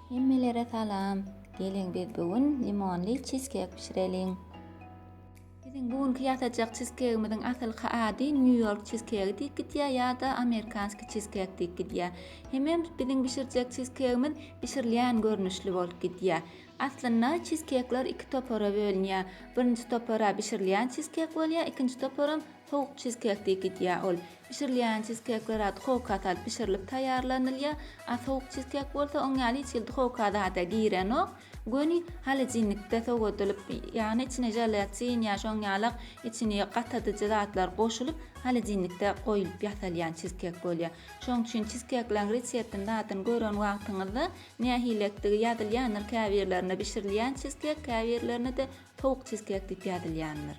Hemmelere salam! Geliň biz bu gün limonly çizkek bişireliň! Biziň bu günki ýasajak çizkegimiziň asylky ady Nýu-Ýork çizkegi diýip gidýär ýa-da Amerikanskiý çizkek diýip gidýär. Hemem biziň bişirjek çizkegimiz bişirilýän görnüşli bolup gidýär. Aslynda çizkekler iki topara bölünýär. Birinji topara bişirilýän çizkek bolýar, ikinji toparam Sowuk çizkek diýip gidýär ol. Bişirilýän çizkekler-ä duhowka salyp bişirilip taýýarlanylýar, a sowuk çizkek bolsa oň ýaly hiç hili duhowka zada girenok, göni holodinnikde sowadylyp, ýagny içine želatin ýa şoň ýalak içini gatadyjy zatlar goşulyp holodinnikde goýlup ýasalýan çizkek bolýar. Şoň üçin çizkekleriň reseptini zadyny gören wagtyňyzda nähili etdigi ýazylýandyr käbirlerinde bişirilýän çizkek käbirlerinde-de Towuk çizkek diýip ýazylýandyr.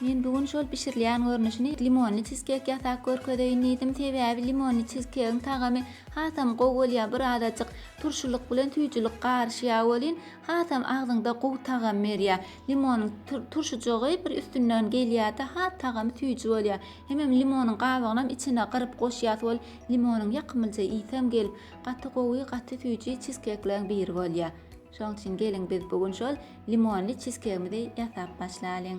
Men bu gün şol bişirilýän görnüşini limonly çizkek ýasap görkezeýin diýdim, sebäbi limonly çizkegiň tagamy hasam gowy bolýar, birazajyk turşulyk bilen süýjülik garyşýar welin, hasam agzyňda gowy tagam berýär. Limonyň turşujygy bir üstünden gelýär-de, has tagamy süýji bolýar. Hemem limonyň gabygynam içine gyryp goşýas, ol limonyň ýakymlyja ysam gelip, gaty gowy, gaty süýji çizkekleriň biri bolýar. Şoň üçin geliň biz bu gün şol limonly çizkegimizi ýasap başlalyň.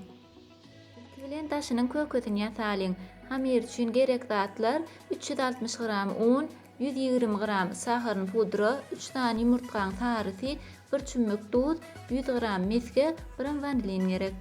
Ilki bilen daşynyň kökesini ýasalyň. Hamyr üçin gerek zatlar, üç ýüz altmyş gram un, ýüz ýigrimi gram saharyny pudra, üç sany ýumurtgaň sarysy, bir çümmük duz, ýüz gram mesge, biram wanilin gerek.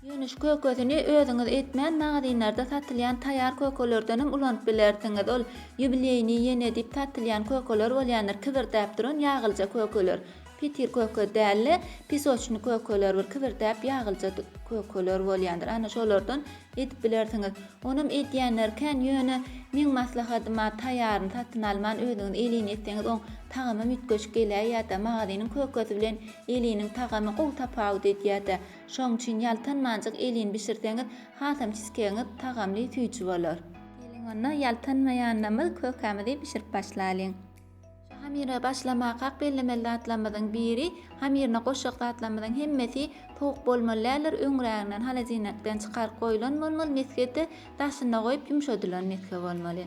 Ýuwnüş kökesini özüňiz etmän magazinlerde satylýan taýýar kökelerdenem ulanyp bilersiňiz. Ol ýubileýniý ýene diýip satylýan kökeler bolýandyr, kibirdäp duran ýagylja kökeler. Petir köke däl-de, pisoçnyý kökeler bir kibirdäp ýagylja kökeler bolýandyr. Ana şolardan edip bilersiňiz. Onam edýänleri kän, ýöne meň maslahatym-a taýýaryny satyn alman özüňiz elin etseňiz oň tagamam üýtgeşik geläýýär-dä, magaziniň kökesi bilen eliniň tagamy gowy tapawut edýär-dä. Şoň üçin ýaltanmanjyk elin bişirseňiz, hasam çizkegiňiz tagamly, süýji bolar. Geliň onda, ýaltanmaýanlamyz kökämizi bişirip başlalyň. Şu hamyra başlamakak bellemeli zatlarymyzyň biri, hamyryna goşjak zatlarymyzyň hemmesi sowuk bolmaly däldir, öňräginden holodilnikden çykaryp goýlan bolmaly mesgede, daşynda goýup ýumşadylan mesge bolmaly.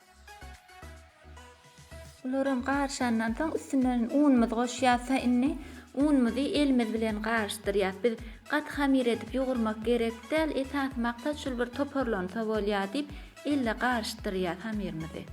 Bularam garyşandan soň üstünden unumyzy goşýas ha indi unumyzy elimiz bilen garyşdyrýas biz gaty hamir edip ýugurmak gerek däl esasy maksat şul bir toparlansa bolýa diýip elle garyşdyrýas hamirimizi.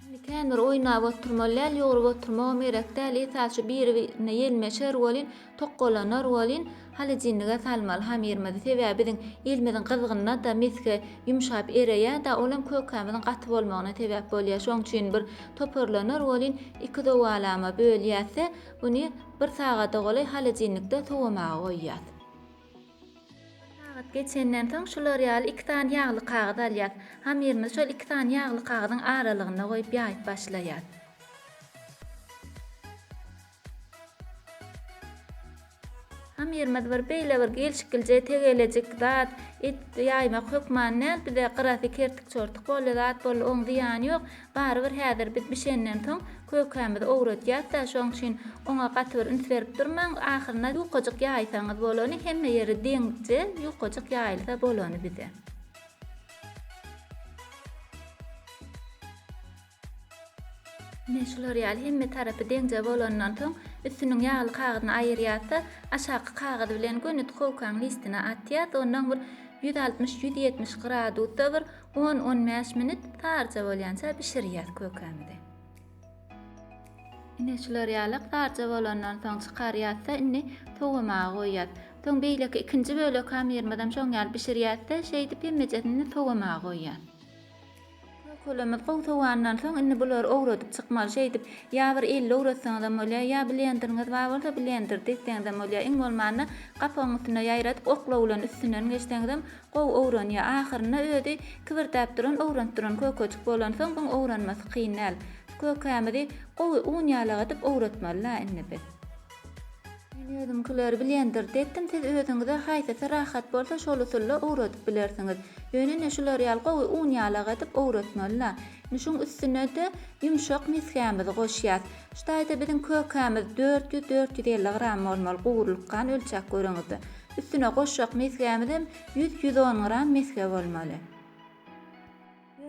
Indi kän bir oýnap oturmaly däl ýugrup oturmagam gerek däl esasy şu biri birine ýelmeşer welin Tokgalanar welin, holodilnige salmaly hamyrymyzy, sebäbi biziň elimiziň gyzgynyna-da mesge ýumşap ereýär-de, olam kökämiziň gaty bolmagyna sebäp bolýar. Şoň üçin bir toparlanar welin, iki zowalama bölýäs-de, buny bir sagada golaý holodilnikde sowamaga goýýas. Bir sagat geçenden soň, şular ýaly iki sany ýagly kagyz alýas. Hamyrymyzy şol iki sany ýagly kagyzyň aralygynda goýup ýaýyp başlaýas. Hamyrymyz bir beýle bir gelşiklijeý tegelejik zat, et ýaýmak hökman däl, bize gyrasy kertik-çortuk boldy, zat boldy, oň zyýany ýok. Barybir häzir biz bişenden soň kökämizi owradýas-da, şoň üçin oňa gaty bir üns berip durmaň, ahyrynda ýukajyk ýaýsaňyz bolany, hemme ýeri deňze ýukajyk ýaýylsa bolany bize. Ine, şular ýaly hemme tarapy deňje bolandan soň, üstüniň ýagly kagyzyny aýyrýas-da, aşaky kagyz bilen göni duhowkaň listine atýas, onnoň bir ýüz altmyş, ýüz ýetmiş gradusda bir on, on bäş minut saryja bolýança bişirýäs kökämizi. Ine, şular ýalak saryja bolandan soň çykarýas-da, indi sowamaga goýýas. Soň beýleki ikinji bölek hamyrymyzam şoň ýaly bişirýäs-de, şeýdip hemmejesini sowamaga goýýas. Kökelemiz gowy sowandan soň, indi bulary owradyp çykmaly. Şeýdip, ýa bir elde owratsaňyzam bolýar, ýa blenderiňiz bar bolsa, blender degseňizem bolýar. Iň bolmanda, gapagyň üstüne ýaýradyp, okla bilen üstünden geçseňizem gowy owranýar. Ahyrynda özi kibirdäp duran, owranyp duran kökejik bolansoň, iň owranmasy kyn däl. Kökämizi gowy un ýalagadyp owratmaly-la indi biz. Men özümkileri blenderda etdim siz özüňize haýsysy rahat bolsa şol usulla owradyp bilersiňiz. Ýöne ine şular ýaly gowy un ýalak edip owratmalyna. Indi şuň üstünede ýumşak misgämizi goşýas. Şu taýda biziň kökämiz dört ýüz, dört ýüz elli gram bolmaly gowrulyk gan ölçäp göreňizde. Üstüne goşjak misgämizem ýüz, ýüz on gram misge bolmaly.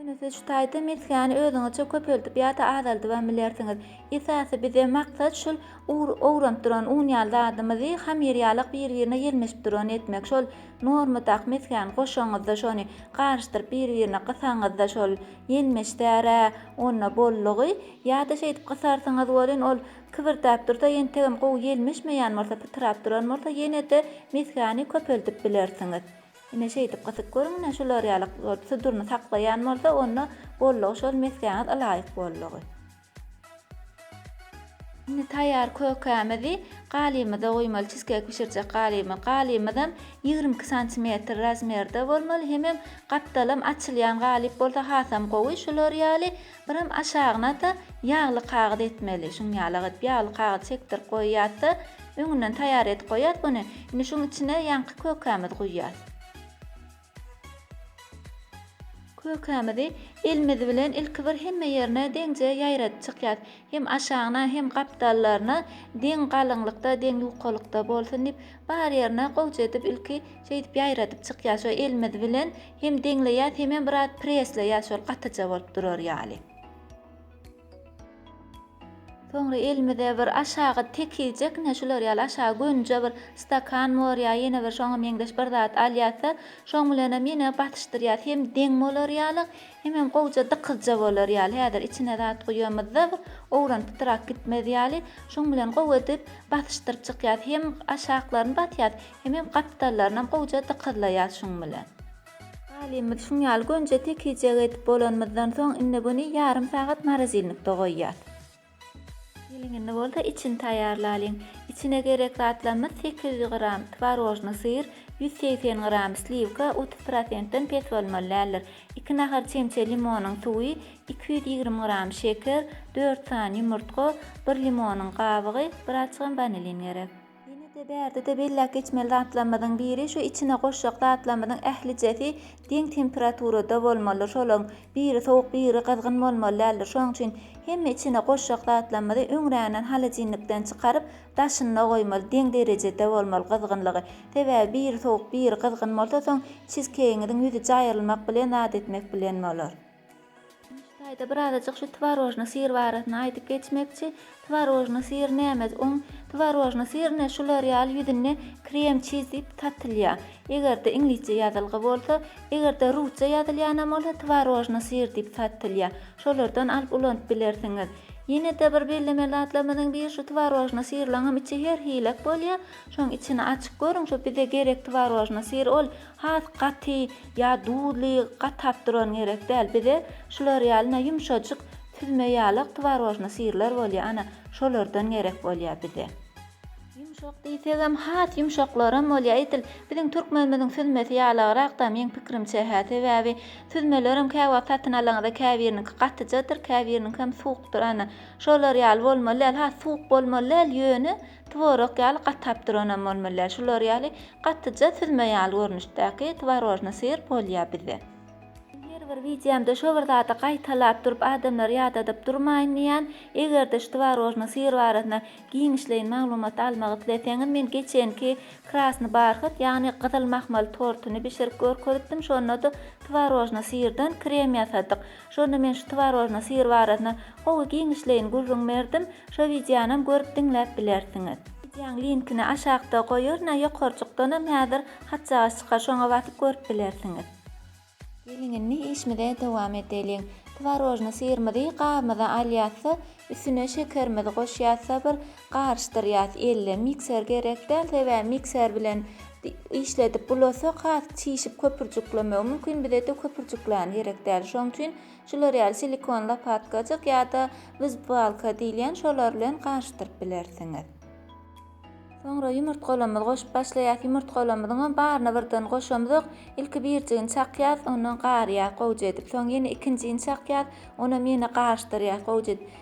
Ýöne siz şu taýda mesgäni özüňizçe köpeldip ýa-da azaldybam bilersiňiz. Esasy bize maksat şul ur owranyp duran un ýaly zadymyzy hamyr ýalak bir-birine ýelmeşip duran etmek. Şol normadaky mesgäni goşaňyzda şony garyşdyryp bir-birine gysaňyzda şol ýelmeşdärä onda bollugy ýa-da şeýdip gysarsyňyz welin ol kybyrtap dursa entegem gowy ýelmeşmeýän bolsa pytrap duran bolsa ýene-de mesgäni köpeldip bilersiňiz. Ine şeýdip gysyp görüň-le, şular ýaly suduryny saklaýan bolsa, onda bollugy şol mesgäňiz ylaýyk bollugy. Indi taýýar kökämizi galymyza guýmaly, çizkeýk bişirjek galymy. Galymyzam ýigrimi iki santimetr razmerde bolmaly, hemem gapdalam açylýan galyp bolsa hasam gowy. Şular ýaly Biram aşagyna-da ýagly kagyz etmeli. Şuň ýalak edip ýagly kagyz çekdirip goýýas-da, öňünden taýýar edip goýýas buny. Indi şuň içine ýaňky kökämizi guýýas. Kökämizi elimiz bilen ilki bir hemme ýerine deňje ýaýradyp çykýas. Hem aşagyna, hem gapdallaryna deň galyňlykda, deň ýukalykda bolsun diýip, bar ýerine gowja edip ilki şeýdip ýaýradyp çykýas. Şo elimiz bilen Hem deňleýäs hemem biraz presleýäs şol gatyja bolup durar ýaly. Soňra elimize bir aşagy tekijekne şular ýaly aşagy gönüje bir stakan bor ýa ýene bir şoňa meňzeş bir zat alýasda şoň bilenem ýene basyşdyrýas hem deň bolar ýaly hemem gowja dykyzja bolar ýaly häzir içine zat guýamyzda bir owran pytrak gitmez ýaly şoň bilen gowy edip basyşdyryp çykýas hem aşaklaryny basýas Hemem gapdallaryna gowja dykyzlaýas şuň bilen. Galymyz şuň ýaly gönje tekijegi edip bolanymyzdan soň indi buny ýarym sagat morozilnikde goýýas. Geliň indi bolsa içini taýýarlalyň. Içine gerek zatlarymyz sekiz ýüz gram twarožnyý syr, ýüz segsen gram sliwka, otuz prosentden pes bolmaly däldir, iki nahar çemçe limonyň suwy, iki ýüz ýigrimi gram şeker, dört sany ýumurtga, bir limonyň gabygy, birazçygam wanilin gerek. Ýene-de bärde-de belläp geçmeli zatlarymyzyň biri, şu içine goşjak zatlarymyzyň ählijesi deň temperaturada bolmalydyr. Şolaryň biri sowuk, biri gyzgyn bolmaly däldir. Şonuň üçin hemme içine goşjak zatlarymyzy öňränden holodilnikden çykaryp, daşynda goýmaly, deň derejede bolmaly gyzgynlygy. Sebäbi biri sowuk, biri gyzgyn bolsa, soň çizkeýiňiziň ýüzi jaýrylmak bilen zat etmek bilen bolar. Nji taýda birazajyk şu twarožny syr barasynda aýdyp geçmekçi. Twarožny syr nämez oň? Twarožny syr ne şular ýaly ýüzünde krem çiz diýip satylýa. Egerde iňlisçe ýazylgy bolsa, egerde rusça ýazylýanam bolsa twarožny syr diýip satylýa. Şolardan alyp ulanyp bilersiňiz. Ýenede bir bellemeli zatlarymyzyň biri şu twarožny syrlaňam içi her hilek bolýa. Şoň içini açyp görüň şu bize gerek twarožny syr ol Has gaty ýa duzly, gatap duran gerek däl. Bize şular ýaly na ýumşajyk süzme ýalak twarožny syrlar bolýa ana şolardan gerek bolýa bize. Ýumşak diýsegem has ýumşaklaram bolýa edil. Biziň türkmenimiziň süzmesi ýalagrakda meň pikrimçe hä sebäbi süzmelerem käwagt satyn alaňyzda käbiriniňki gatyjadyr käbiriniňkem suwukdyr ana şolar ýaly bolmaly däl has suwuk bolmaly däl ýöne Tworog ýaly gatap duranam bolmalyar şular ýaly gatyja süzme ýaly görnüşdäki tworojny syr bolýa bizde. Men her bir wideomda şo bir zady gaýtalap durup adamlary ýadadyp durmaýyn diýýän, egerde şu tworojny syr barasynda giňişleýin maglumat almak isleseňiz men geçenki krasny barhyt ýagny gyzyl mahmal tortyny bişirip görkezipdim şondada tworojny syrdan krem ýasadyk Şonda men şu twarojny syr barasynda gowy giňişleýin gürrüň berdim, şo wideonam görüp diňläp bilersiňiz. Wideoň linkini aşakda goýaryn a ýokarjykdanam häzir hatjagaç çykar şoňa basyp görüp bilersiňiz. Geliň indi işmize dowam edeliň. Twarojny syrymyzy gabymyza alýasda üstüne şekerimizi goşýasda bir Garyşdyrýas elle mikser gerek däl sebäbi mikser bilen işledip bulasak has çişip köpürjiklemegi mümkin bizede köpürjikleýän gerek däl şoň üçin şular ýaly silikon lopatkajyk ýada wizbalka diýilýän şolar bilen garyşdyryp bilersiňiz. Soňra ýumurtgalamyzy goşup başlaýas ýumurtgalamyzyňam baryny birden goşamzok ilki birjigini çakýas ondan garýas gowja edip soň ýene ikinjini çakýas onam ýene garyşdyrýas gowja edip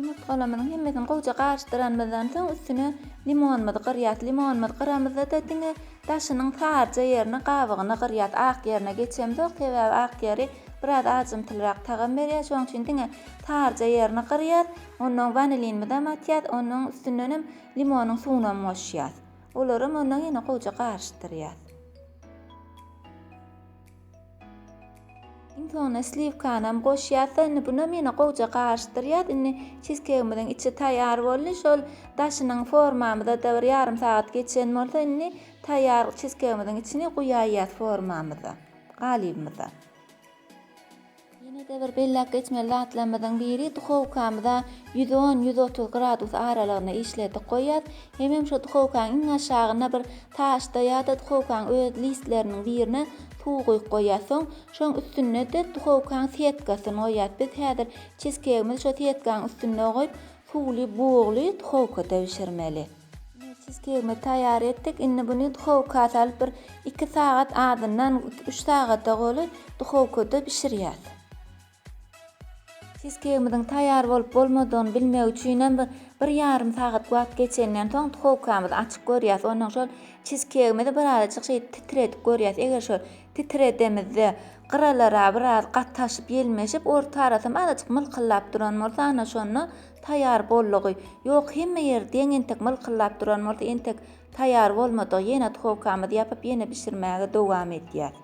Ýumurtgalamyzyň hemmesini gowja garyşdyranymyzdan soň üstüne limonymyzy gyrýas. Limonymyzy gyramyzda-da diňe daşynyň saryja ýerini, gabygyny gyrýas. Ak ýerine geçemzok, sebäbi ak ýeri biraz ajymtylyrak tagam berýär. Şonuň üçin diňe saryja ýerini gyrýas. Ondan wanilinimizem atýas, onuň üstündenem limonyň suwunam goşýas. Olaram ondan ýene gowja garyşdyrýas. Iň soňuna sliwkanam goşýarsyň. Indi buna meni gowja garyşdyrýas. Indi çizkegimiziň içi taýýar boldy. Şol daşynyň formamyza-da bir ýarym sagat geçen bolsa, indi taýýar çizkegimiziň içini guýaýýas formamyza, galybymyza. Ýene-de bir belläp geçmeli zatlarymyzyň biri, duhowkamyza ýüz on, ýüz otuz gradus aralygynda işledip goýýas. Hemem şo duhowkaň iň aşagyna bir taşda ýa-da duhowkaň öz listleriniň birine suw guýup goýýas. Soň şoň üstünde-de duhowkaň setkasyny goýýas. Biz häzir çizkeýgimizi şo setkaň üstünde goýup, suwly, bugly duhowkada bişirmeli. Nepis tegme taýýar etdik. Indi buny duhowka salyp bir iki sagat azyndan iki-üç sagada goly duhowkada bişirýäs. Çizkeýgimiziň taýýar bolup bolmadygyny bilmek üçinem bir bir ýarym sagat wagt geçenden soň duhowkamyzy açyp görýäs. Ondan şol çizkeýgimizi birazajyk şeýdip titredip görýäs. Eger şol titredemizde gyralara biraz gataşyp ýelmeşip orta arasam azajyk mylkyldap duran bolsa ana şonda Taýýar boldugy ýok hemme ýer deň entek mylkyllap duran bolsa entek taýýar bolmadygy ýene duhowkamyzy ýapyp ýene bişirmäge dowam edýäs.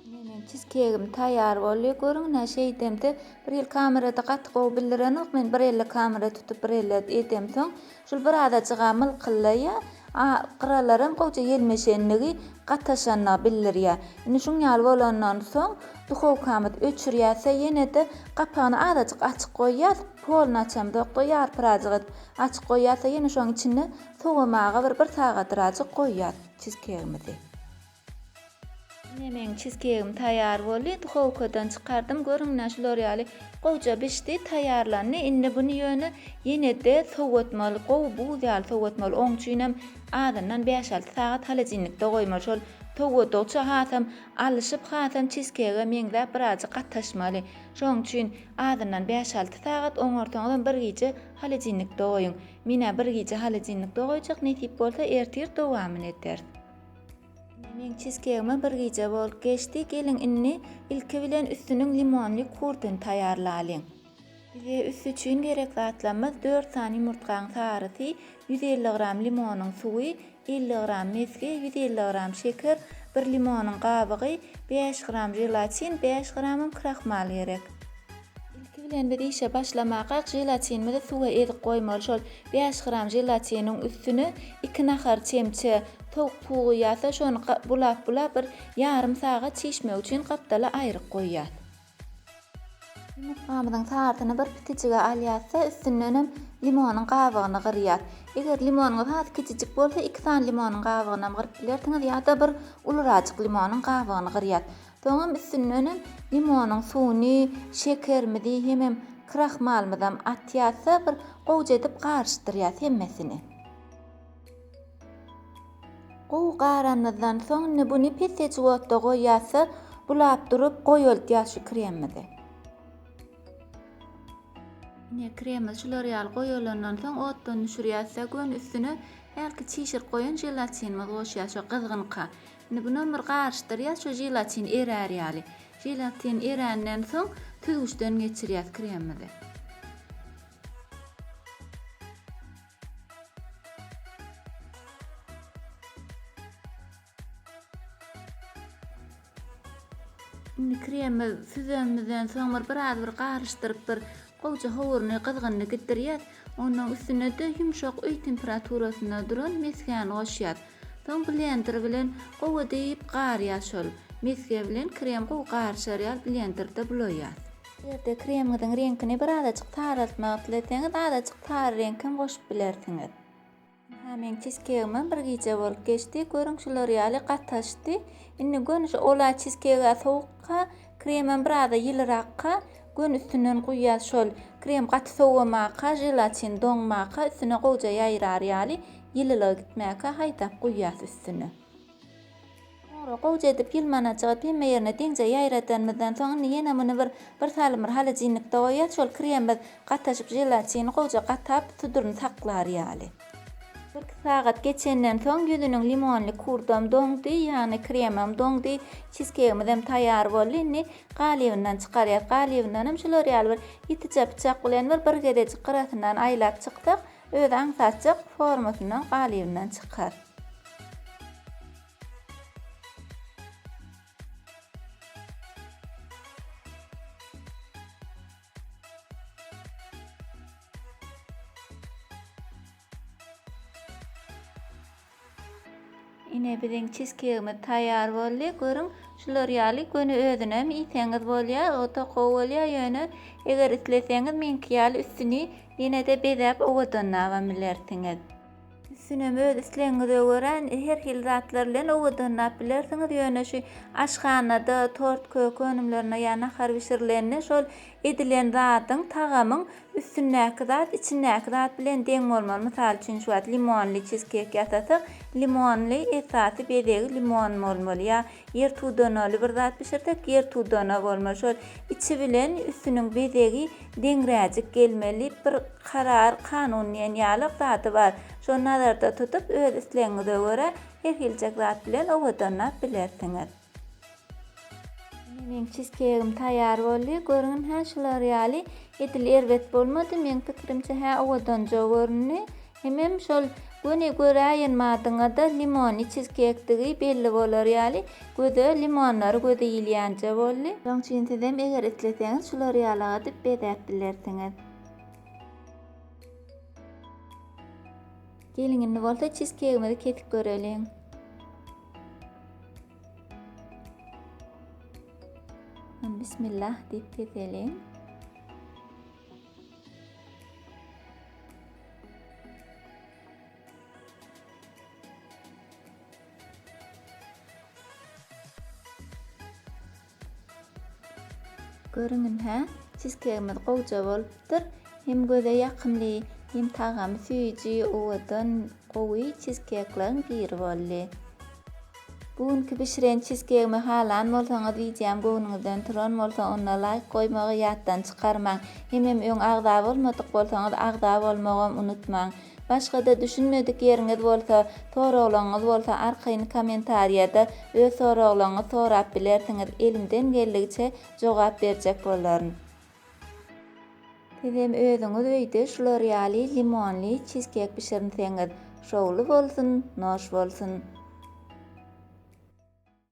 Ine meň çiz kegim taýýar boldy görüň nä şeýdemde bir hili kamerada gaty gowy bildirenok men bir elle kamera tutup bir elle edemsoň şul bir azajyga mylkyllaýa a gyralaram gowja ýelmeşenligi gataşanyny bildirýä indi şuň ýaly bolandan soň Duhowkamyz öçürýärse ýene-de gapagyny azajyk açyk goýýas, poluny açamzok-da ýarpyrajyk edip açyk goýýas-da ýene şoň içinde sowamaga bir bir sagadrajyk goýýas çizkegimizi. Ine meň çizkegim taýar boldy. Duhowkadan çykardym. Görüň ine şular ýaly gowja bişdi, taýarlandy. Indi buny ýöne ýene-de sowatmaly, gowy buz ýaly sowatmaly. Oň üçinem azyndan bäş-alty sagat holodilnikde goýmaly. Şol sowadygyça hasam Alyşyp hasan çizkege meňzäp birazjyk gataşmaly. Şoň üçin azyndan bäş-alty sagat oňarsaňyzam bir gije holodilnikde goýuň. Menä bir gije holodilnikde goýjak nesip bolsa ertir dowamyny ederis. Ine meň çizkegime bir gije bolup geçdi. Geliň indi ilki bilen üstüniň limonly kurtyny taýarlalyň. Bize üsti üçin gerek zatlarymyz dört sany ýumurtgaň sarysy, ýüz elli gram limonyň suwy, elli gram mesge, ýüz elli gram şeker, bir limonyň gabygy, bäş gram želatin, bäş gramam krahmal gerek. Ilki bilen biz işe başlamakak želatinimizi suwa ezip goýmaly, şol bäş gram želatiniň üstüne iki nahar çemçe towuk pugy ýasa şony bulap bulap bir ýarym sagat çişmegi üçin gapdala aýryp goýýas. Ýumurtgamyzyň sarysyny bir pitijige alýarys-da, üstündenem limonyň gabygyny gyrýas. Eger limonyňyz has kiçijik bolsa, iki sany limonyň gabygynam gyryp bilersiňiz ýa-da bir ulurajyk limonyň gabygyny gyrýas. Soňam üstündenem limonyň suwuny, şekerimizi hemem krahmalymyzam atýas-da, bir gowja edip garyşdyrýas hemmesini. Gowy garanymyzdan soň indi buny pes-eç otda goýýas-da, bulap durup goýaltýas şu kremimizi. Ine, kremimiz şular ýaly goýalandan soň otdan düşürýäs-de, göni üstüne hälki çişirip goýan želatinimizi goşýas, şo gyzgynka. Indi bunam bir garyşdyrýas, şo želatin erär ýaly. Želatin eränden soň süzgüçden geçirýäs kremimizi. Indi kremi süzeniňizden soň bir biraz bir garyşdyryp bir gowja howuryny gyzgynyny gitdirýäs. Ondan üstüne-de ýumşak öý temperaturasynda duran mesgäni goşýas. Soň blender bilen gowy edip garýas şol. Mesge bilen krem gowy garyşar ýaly blenderde bulaýýas. Bu ýerde kremiňiziň reňkini birazajyk saraltmak isleseňiz, azajyk sary reňk hem goşup bilersiňiz. Ynha, meň çizkegimem bir gije bolup geçdi. Görüň, şular ýaly gataşdy. Indi göni şu ola çizkeg-ä sowukka, kremem biraz-a ýylyrakka, göni üstünden guýýas. Şol krem gaty sowamaka, želatin doňmaka, üstüne gowja ýaýrar ýaly, ýylylygy gitmäkä haýdap guýýas üstüne. Soňra gowja edip ýylmana çygyp, hemme ýerine deňje ýaýradanymyzdan soň, indi ýene muny bir, bir salym bir holodilnikde goýýas, şol kremimiz gataşyp, želatini gowja gatap, suduryny saklar ýaly. Bir-iki sagat geçenden soň, ýüzüniň limonly kurdam doňdy, ýagny kremam doňdy, çizkeýgimizem taýýar boldy. Indi galybyndan çykarýas. Galybyndanam şular ýaly bir ýitijä pyçak bilen bir, bir gezejik gyrasyndan aýlap çyksak, özi aňsatjak formasyndan, galybyndan çykar. Ine biziň çizkegimiz taýýar boldy. Görüň, şular ýaly göni özünem iýseňiz bolýar. Ota gowy bolýar, ýöne eger isleseňiz meňki ýaly üstüni ýene-de bezäp owadanlabam bilersiňiz. Üstünem öz islegiňize görä her hili zatlar bilen owadanlap bilersiňiz, ýöne şu aşhanada tort, kök önümlerinde ýa nahar bişirilende şol edilen zadyň, tagamyň üstündäki zat içindäki zat bilen deň bolmaly. Mysal üçin şu wagt limonly çizkek ýasasak, limonly esasy bezegi limon bolmaly ýa Ýer tudanagly bir zat bişirsek, ýer tudanag bolmaly. Şol içi bilen üstüniň bezegi deňräjik gelmeli diýip bir karar, kanun diýen ýalyk zady bar. Şony nazarda tutup, öz islegiňize görä her hiljek zat bilen owadanlap bilersiňiz. Ine meň çizkeýgim taýýar boldy. Görüň, hä şular ýaly edil erbet bolmady. Meň pikirimçe hä owadanja göründi. Hemem şol göni göräýen madyňada limony çizkekdigi belli bolar ýaly göze limonlary gözi ilýänje boldy. Şoň üçin sizem eger isleseňiz şular ýaly adyp bezäp bilersiňiz. Geliň indi bolsa çizkegimizi kesip göreliň. Bismillah diýip keseliň. Görüňin-hä, çizkegimiz gowja bolupdyr. Hem göze ýakymly, hem tagamy süýji, owadan, gowy çizkekleriň biri boldy. Bu günki bişiren çizkegimi halan bolsaňyz wideom göwnüňizden turan bolsa onda laýk goýmagy ýatdan çykarmaň. Hemem öň agza bolmadyk bolsaňyz agza bolmagam unutmaň. Başgada düşünmedik ýeriňiz bolsa, soraglaňyz bolsa arkaýyn komentarýada öz soraglaňyz sorap bilersiňiz elimden geldigiçe jogap berjek bolaryn. Sizem özüňiz öýde şular ýaly limonly çizkek bişirinseňiz şowly bolsun, noş bolsun!